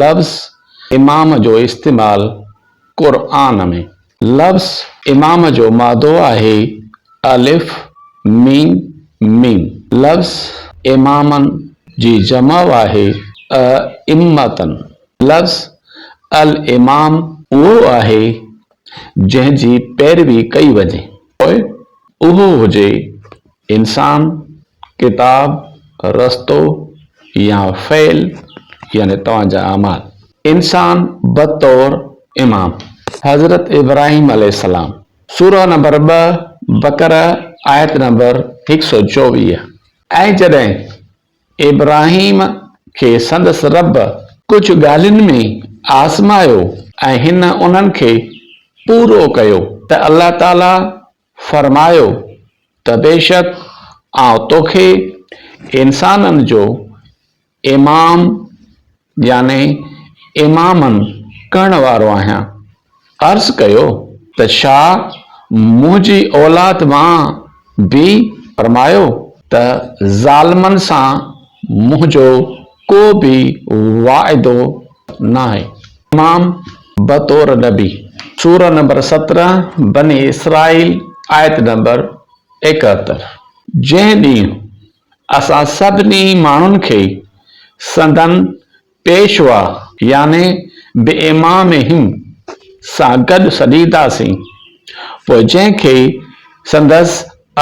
لفظ امام جو استعمال قرآن ۾. لفظ امام جو مادو آهي الف ميم ميم. لفظ امامن جي جمع آهي ائمتن. لفظ الامام اهو آهي جنهن جي پيروي ڪئي وڃي پوء اهو هجي انسان، ڪتاب، رستو يا فعل يعني توهان جا اعمال. انسان بطور امام حضرت ابراهيم عليه السلام، سوره نمبر ٻه بقره آيت نمبر هڪ سؤ چوويهه، ۽ جڏهن ابراهيم کي سندس رب ڪجهه ڳالهين ۾ آزمايو ۽ هن انهن کي پورو ڪيو ته الله تعاليٰ فرمايو ته بيشڪ آئون توکي انسانن جو امام يعني امامن ڪرڻ وارو آهيان. عرض ڪيو ته ڇا منهنجي اولاد مان به؟ فرمايو ته ظالمن سان منهنجو ڪو به وعدو ناهي. امام بطور نبي، سورة نمبر سترهن، بني اسرائيل، آيت نمبر ايڪهتر، جنهن ڏينهن اسان سڀني ماڻهن کي سندن پيشوا يعني بامامهم سان گڏ سڏينداسين، پوء جنهن کي سندس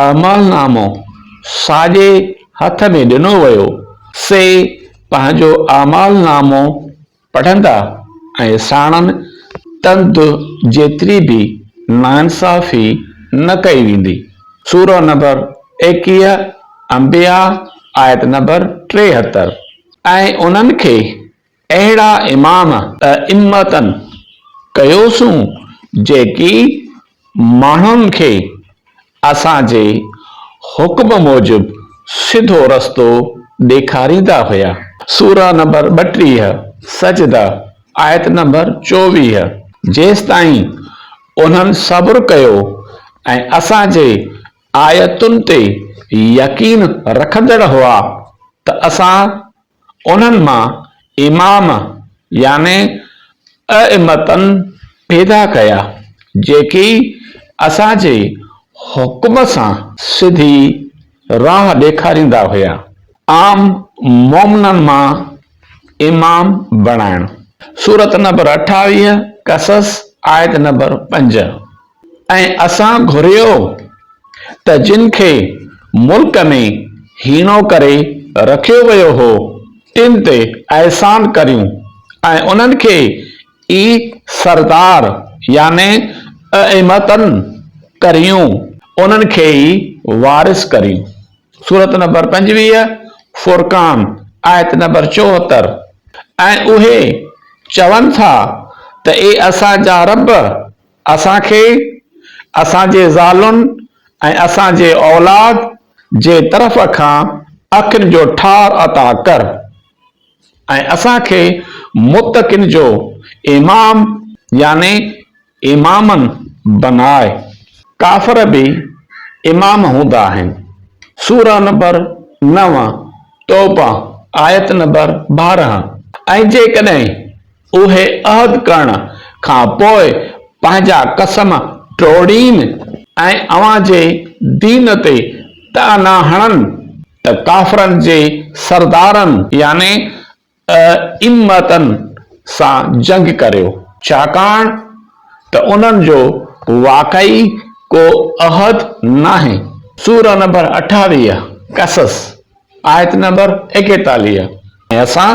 اعمال نامو ساڄي هٿ ۾ ڏنو ويو، سي پنهنجو اعمال نامو پڙهندا ۽ ساڻن تند جيتري به ناانصافي نه ڪئي ويندي. سورة نمبر ايڪيهه، انبياء، آيت نمبر ٽيهتر، ۽ انهن کي اهڙا امام، ائمتن، ڪيوسون جيڪي ماڻهن کي اسان جي حڪم موجب سڌو رستو ڏيکاريندا هيا. سوره نمبر ٻٽيهه، سجده، آيت نمبر چوويهه، جيستائين انهن صبر ڪيو ۽ اسان جي آيتن تي يقين رکندڙ هئا ته اسان انهن مان امام يعني ائمتن پيدا ڪيا جيڪي اسان جي حڪم سان سڌي راهه ڏيکاريندا هيا. عام مؤمنن مان امام بڻائڻ. سورة نبر اٺاويهه، قصص، آيت نمبر پنج. ۽ اسان گهريو ته جن کي ملڪ ۾ هيڻو ڪري رکيو ويو هو تن تي احسان ڪريون ۽ انهن کي ئي سردار يعني ائمتن ڪريون، انهن کي ئي وارث ڪريون، سورت نمبر پنجويهه، فرقان، آيت نمبر چوهتر، ۽ اهي چون ٿا ته اي اسان جا رب! اسان کي اسان جي زالن ۽ اسان جي اولاد جي طرف کان اکين جو ٺار عطا ڪر ۽ اسان کي متقين جو امام يعني امامن بناء، ڪافر به امام هوندا آهن، سوره نمبر نو، توبه، آيت نمبر ٻارهن، ۽ جيڪڏهن اهي عهد ڪرڻ کان پوء پنهنجا قسم ٽوڙين ۽ اوهان جي دين تي طعنا هڻن ته ڪافرن جي سردارن، يعني ائمتن، سان جنگ ڪريو، ڇاڪاڻ ته انهن جو واقعي ڪو عهد ناهي. سورة نمبر اٺاويهه، قصص، آيت نمبر ايڪيتاليهه، ۽ اسان.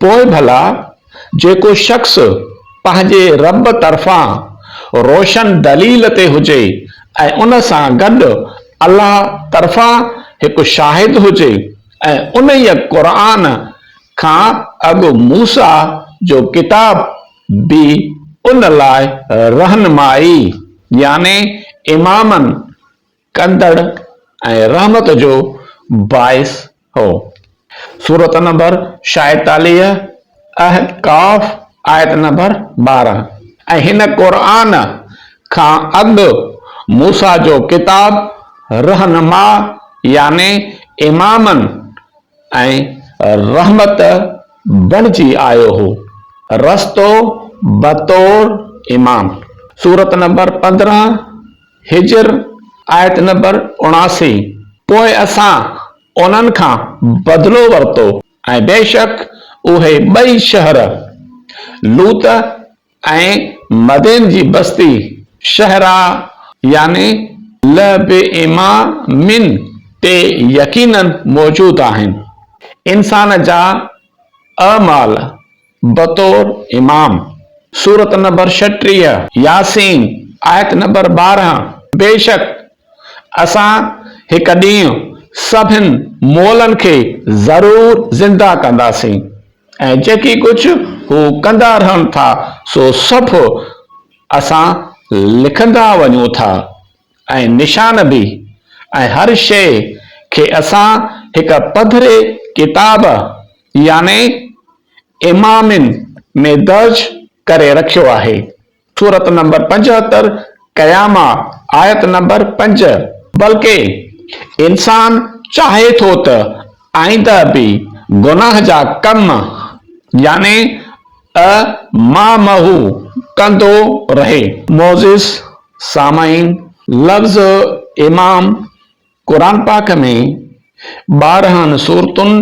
پوء ڀلا جيڪو شخص پنهنجي رب طرفان روشن دليل تي هجي ۽ ان سان گڏ الله طرفان هڪ شاهد هجي ۽ انهيء، قرآن، کان اڳ موسيٰ جو ڪتاب به ان لاء رهنمائي، يعني امامن، ڪندڙ ۽ رحمت جو باعث هو. سورة نمبر شايتاليهه، احقاف، آيت نمبر ٻارهن، ۽ هن، قرآن، کان اڳ موسيٰ جو ڪتاب رهنما يعني امامن ۽ رحمت بڻجي آيو هو، رستو بطور امام، سورة نمبر پندرهن، هجر، آيت نمبر اڻاسي، پوء اسان انهن کان بدلو ورتو ۽ بيشڪ اهي ٻئي شهر، لوط ۽ مدين جي بستي، شهرا يعني لبئيما من، تي يقيناً موجود آهن. انسان جا اعمال بطور امام سورة نمبر ڇٽيهه، ياسين، آيت نمبر ٻارهن، بيشڪ اسان هڪ ڏينهن سڀن مئلن کي ضرور زنده ڪنداسين ۽ جيڪي ڪجهه هو ڪندا رهن ٿا سو سڀ اسان لکندا وڃون ٿا. ۽ نشان به ۽ هر شيء کي اسان هڪ پڌري ڪتاب يعني امامين ۾ درج ڪري رکيو آهي، سورت نمبر پنجهتر، قيامه، آيت نمبر پنج، بلڪه انسان چاهي ٿو ته آئنده به گناهه جا ڪم يعني ته مامهو ڪندو رهي. معزز سامعين لفظ امام قرآن پاڪ ۾ ٻارهن سورتن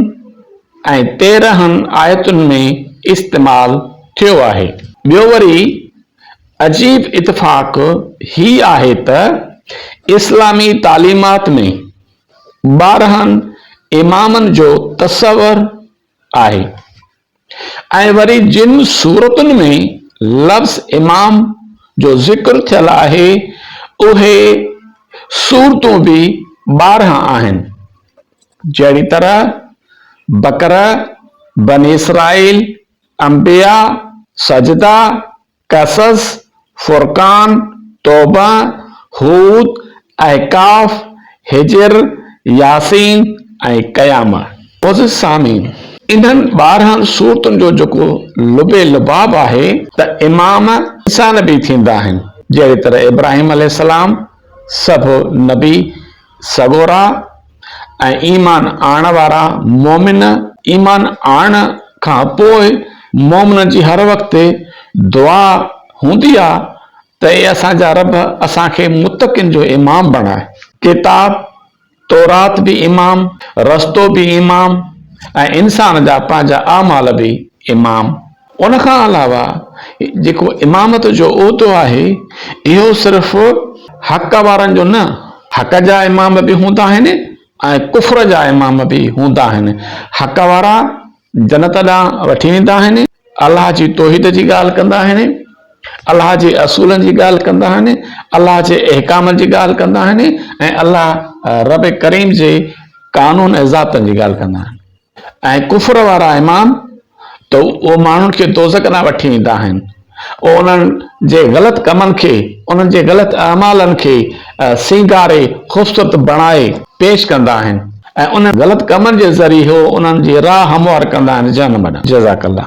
۽ تيرهن آيتن ۾ استعمال ٿيو آهي. ٻيو وري عجيب اتفاق هي آهي ته اسلامي تعليمات ۾ ٻارهن امامن جو تصور آهي. ۽ وري جن سورتن ۾ لفظ امام جو ذڪر ٿيل آهي اهي سورتون به ٻارهن آهن جهڙي طرح بقره، بني اسرائيل، انبياء، سجده، قصص، فرقان، توبه، هود، احقاف، حجر، ياسين ۽ قيامه. معزز سامعين! انهن ٻارهن سورتن جو جيڪو لب لباب آهي ته امام عيسيٰ نبي ٿيندا آهن جهڙي طرح ابراهيم عليه السلام سڀ نبي سڳورا ۽ ايمان آڻڻ وارا مؤمن ايمان آڻڻ کان پوء مؤمنن جي هر وقت دعا هوندي آهي ته اي اسان جا رب اسان کي متقين جو امام بڻاء. ڪتاب، تورات به امام، رستو به امام ۽ انسان جا پنهنجا اعمال به امام. ان کان علاوه جيڪو امامت جو عهدو آهي اهو صرف حق وارن جو نه حق جا امام به هوندا آهن ۽ ڪفر جا امام به هوندا آهن حق وارا جنت ڏانهن وٺي ويندا آهن الله جي توحيد جي ڳالهه ڪندا آهن الله جي اصولن جي ڳالهه ڪندا آهن الله جي احڪامن جي ڳالهه ڪندا آهن ۽ الله رب ڪريم جي قانون ۽ ذاتن جي ڳالهه ڪندا آهن ۽ ڪفر وارا امام ته اهي ماڻهن کي دوزخ ڏانهن وٺي ويندا آهن پوء انهن جي غلط ڪمن کي، انهن جي غلط اعمالن کي سينگاري خوبصورت بڻائي پيش ڪندا آهن ۽ انهن غلط ڪمن جي ذريعي هو انهن جي راهه هموار ڪندا آهن جهنم ڏانهن. جزاڪ الله.